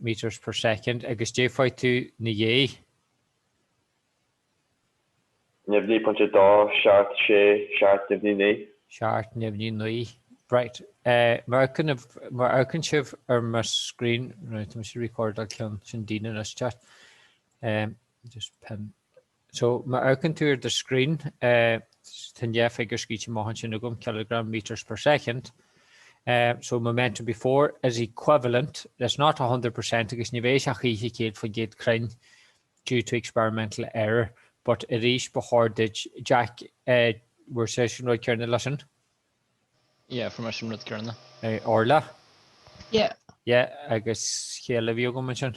metres per second, agus dé fuair tú 'na dhéidh. neamhní, pointe dó, seacht, sé, seacht, neamhní, naoi. seacht, neamhní, naoi. Right. Má amharcann sibh ar mo screen, right, tá mise ag recordáil ceann sin daoine anois, just pen. So, má amharcann tú ar do screen, tá an dá figiúr scríte amach ansin agam, kilogram, metres per second, so momentum before is equivalent, it's not a hundred percent agus ní bheidh sé a choíche céad faoin gcéad cruinn due to experimental error, but arís ba chóir duit, Jack, an bhfuair sibhse an rud céarna leis sin. Yeah, fuair seisean rud céarna. Orla? Yeah. Yeah, agus cé eile a bhí agam ansin.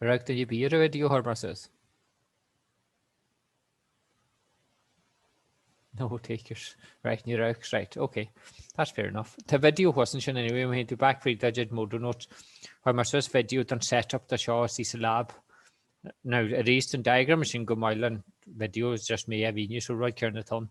Ar amharc duine ar bith ar an video a chuir mé suas? No takers. Right, níor amharc, right, ok. That's fair enough. Tá video thuas ansin anyway, má théann tú back fríd do chuid notes. Chuir mé suas video don set up dó seo istigh sa lab. Now, arís tá an diagram ansin go maith le an video, it's just mar a bhí, so an rud céarna atá ann.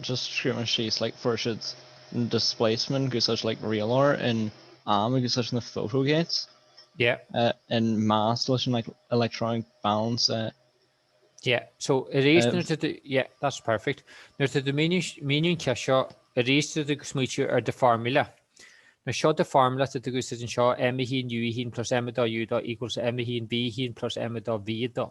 just scríobh mé síos like fuair siad displacement ag úsáid like rialóir an t-am ag úsáid na photo gates yeah an mass leis an like electronic balance uh, yeah so arís um, nuair tú yeah that's perfect nuair atá tú ag míniú an ceist seo arís tá tú ag smaoitiú ar the formula ná seo the formula atá tú ag úsáid anseo m1 u1 plus m2 u2 equals m1 v1 plus m2 v2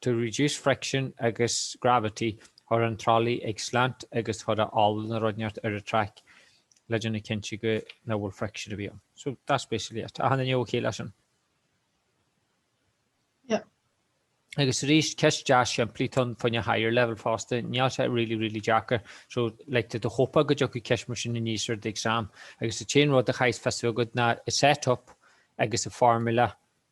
to reduce friction agus gravity cuir an tralaí ag slant agus cuir ola nó rud inteacht ar an traic le déanamh cinnte go ná bhfuil friction ar bith ann. So that's basically it. Achan nduine OK leis sin. Yep. Agus arís, ceist deas simplí, tá sé fá choinne higher level fosta, níl sé really, really deacair. So like tá tú ag hopeáil go dtiocfaidh ceist mar sin aníos ar d'exam. Agus an t-aon rud a chaithfeas fios agat ná an set up agus an formula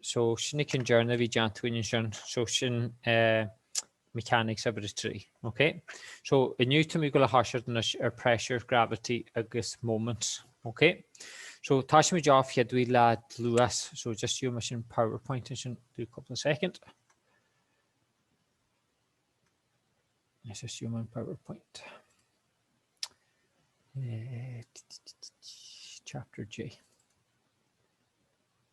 so sin ag an journey a bhí déanta againn ansin, so sin eh, mechanics of it trí, ok? So inniu tá mé go le háisirt anois ar pressure, gravity agus moment, ok? So tá sé mé deáf cheadú le luas, so just you me sin PowerPoint in sin do couple of second. Let's just you my PowerPoint. Uh, chapter J.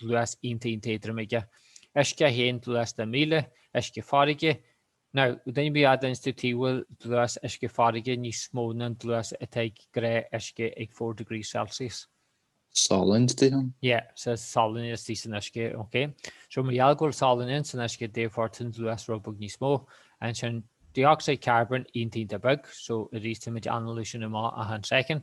dlús iontach iontach éadrom aige, uisce 1 dlús de 1,000 uisce farraige, now duine ar bith ábalta inse domh tuige a bhfuil dlús uisce farraige níos mó ná an dlús atá ag gnáthuisce ag four degrees Celsius. Salann istigh ann? Yeah, so salann istigh san uisce, ok. So mar gheall go bhfuil salann ins an uisce, therefore tá an dlús rud beag níos mó, ansin dioxide carbon iontach iontach beag, so arís tá muid ag análú sin amach achan second,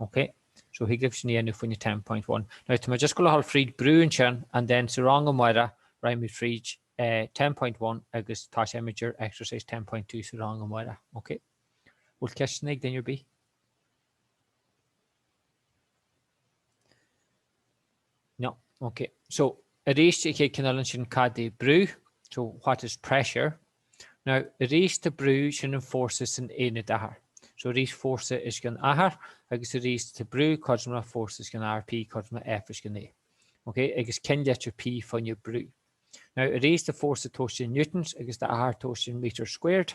Ok. So thig libh sin a dhéanamh fá choinne ten point one. Now tá mé just ag gabháil a ghabháil fríd brú ansin and then sa rang amárach rachaidh muid fríd ten point one agus toiseoidh muid ar exercise ten point two sa rang amárach. Ok. Bhfuil ceisteanna ag duine ar bith? No, ok. So, arís an chéad cheann eile ansin, cad é brú? So, what is pressure? Now, arís tá brú, sin an fórsa san aonad achair. So, arís fórsa os cionn achar, agus arís tá brú, cothrom le fórsa os cionn achar, P, cothrom le F os cionn A. Ok, agus cén litir P fá choinne brú? Now, arís tá fórsa tomhaiste in newtons agus tá achar tomhaiste in metres squared.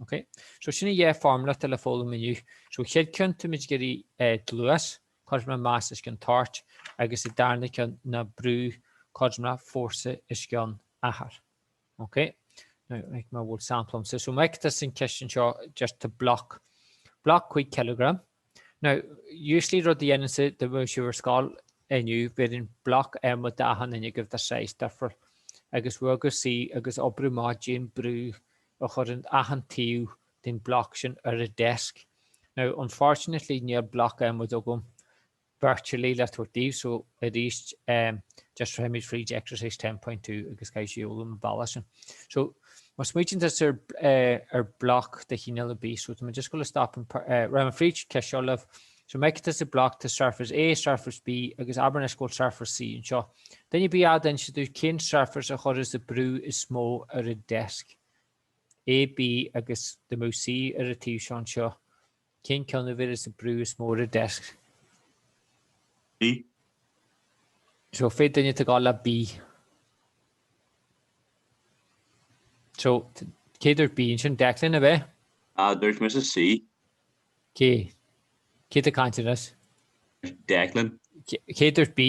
Ok. So sin an dá fhoirmle atá le foghlaim inniu. So chéad cheann tá muid ag iarraidh dlús, cothrom le mais os cionn toirt, agus an darna ceann ná brú, cothrom le fórsa os cionn achar. Ok. Now like mar bhfuil sampla agamsa. So meic de sna ceisteanna seo deirtear block. Block 5 cileagram. Now, usually rud a dhéanaimse, dá mbeadh sibh ar scoil inniu, bhéarfainn bloc adhmaid d'achan duine agaibh de size difriúil agus bhogadh suí agus oibriú amach cad é an brú a chuireann achan taobh den bloc sin ar an desk. Now, unfortunately níl bloc adhmaid agam virtually le tabhairt daoibh so arís um just rachaidh muid fríd exercise 10.2 agus caithfidh sibh foghlaim an bealach sin so má smaointíonn sibh ar eh, ar block de chineál ar bith so tá mé just ag gabháil a stop an eh, ra an fríd ce seo libh so me is a block tá surface A surface B agus abair na scóil surface C anseo den i bí a den si dú cén surface a chuirfeas an brú is mó ar an desk AB agus dá mbeadh C ar an taobh seo anseo Cén ceann a bheas an brú is mó ar an deisc? B. So, cén duine atá ag gabháil le B. So, cé a dúirt B ansin? Declan, ab ea? No, dúirt mise C. Cé? Cé atá ag caint anois? Declan. Cé a dúirt B?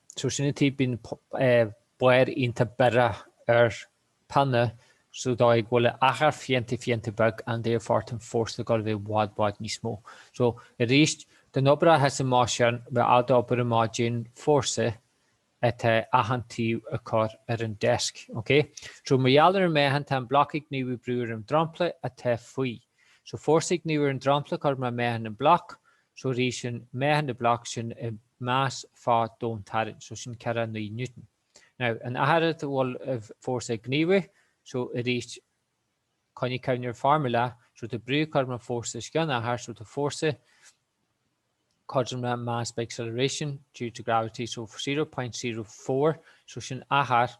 So sin tuige a mbíonn barr iontach biorach ar pionna so de bhrí go bhfuil achar iontach iontach beag ann therefore tá an fórsa ag gabháil a bheith i bhfad i bhfad níos mó. So arís don obair atá sa mbá sean bheith ábalta oibriú amach cad é an fórsa atá achan taobh ag cur ar an desk. Ok? So mar gheall ar an meáchan tá an block ag gníomhú brú ar an dromchla atá faoi. So fórsa ag gníomhú ar an dromchla cothrom le meáchan an block So arís ansin, meáchan den bloc sin an mais fá domhantarraingt. So sin ceithre naoi Newton. Now, an achar dá bhfuil an fórsa ag gníomhú, so arís, coinnigh ceann ar formula, so tá brú cothrom le fórsa os cionn achar, so tá fórsa cothrom le mass by acceleration due to gravity, so zero point zero four, so sin achar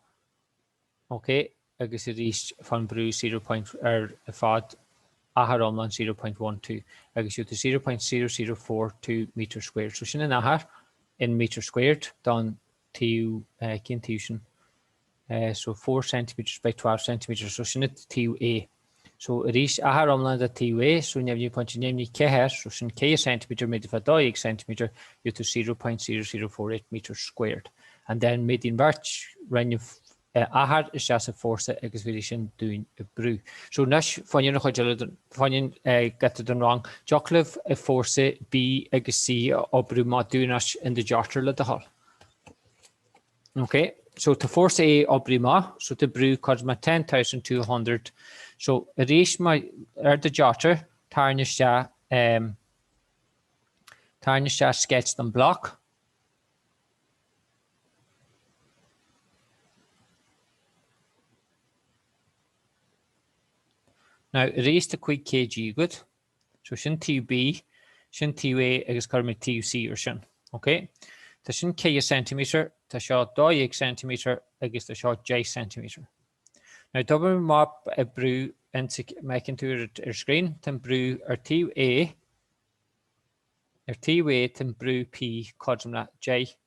OK, agus arís fan brú zero point ar fad, achar iomlán zero point one two, agus gheobhaidh tú zero point zero zero four two metres squared. So sin an achar in metres squared don taobh, cén taobh sin, so four centimetres by twelve centimetres, so sin an taobh A. So arís achar iomlán de taobh A, so neamhní pointe neamhní ceathair, so sin 4 centimetre méadaithe fá 12 centimetre, gheobhaidh tú 0.0048 metres squared. And then méadaíonn bheirt roinn an achar isteach sa fórsa agus bheir sin dúinn an brú. So anois fanann an chuid eile fanann gata don rang. Dtiocfadh libh an fórsa B agus C a oibriú amach dúinn anois in do jotter le do thoil. Ok, so tá fórsa a oibriú amach, so tá brú cothrom le ten thousand two hundred, so arís mar ar do jotter, tarraing isteach um tarraing isteach sketch don bloc. Now arís tá 5 kg good. So sin taobh B, sin taobh A agus cuirfidh mé taobh C air sin. OK? Tá sin 4 ceintiméadar, tá seo 12 ceintiméadar agus tá seo 10 ceintiméadar. Now d'oibrigh mé amach an brú ins a fheiceann tú ar screen, tá an brú ar taobh A, ar taobh A tá an brú P cothrom le 10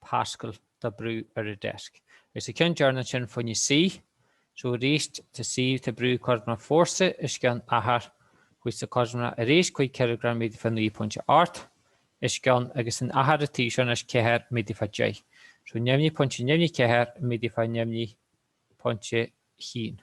Pascal de brú ar an deasc. Agus an ceann deireanach ansin faoina C, so arís tá sé tá brú cothrom le fórsa os cionn achar fórsa cothrom le arís cúig cileagram méadaithe fá naoi pointe ocht os cionn agus an achar an taobh seo anois ceathair méadaithe fá deich so neamhní pointe neamhní ceathair méadaithe fá neamhní pointe a haon.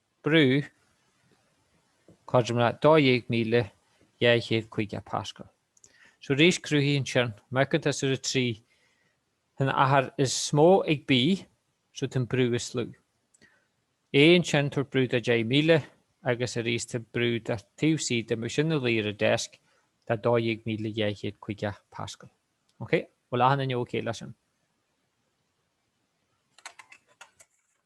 Brú, cothrom le 12,250 pascal. So arís cruthaíonn sin má amharcann tú ar an 3 tá an achar is mó ag B so tá an brú is lú. A ansin tá brú de 10,000 agus arís tá brú de taobh C dá mbeadh sé ina luí ar an deasc de 12,250 pascal. Ok? Bhfuil achan duine ok leis sin?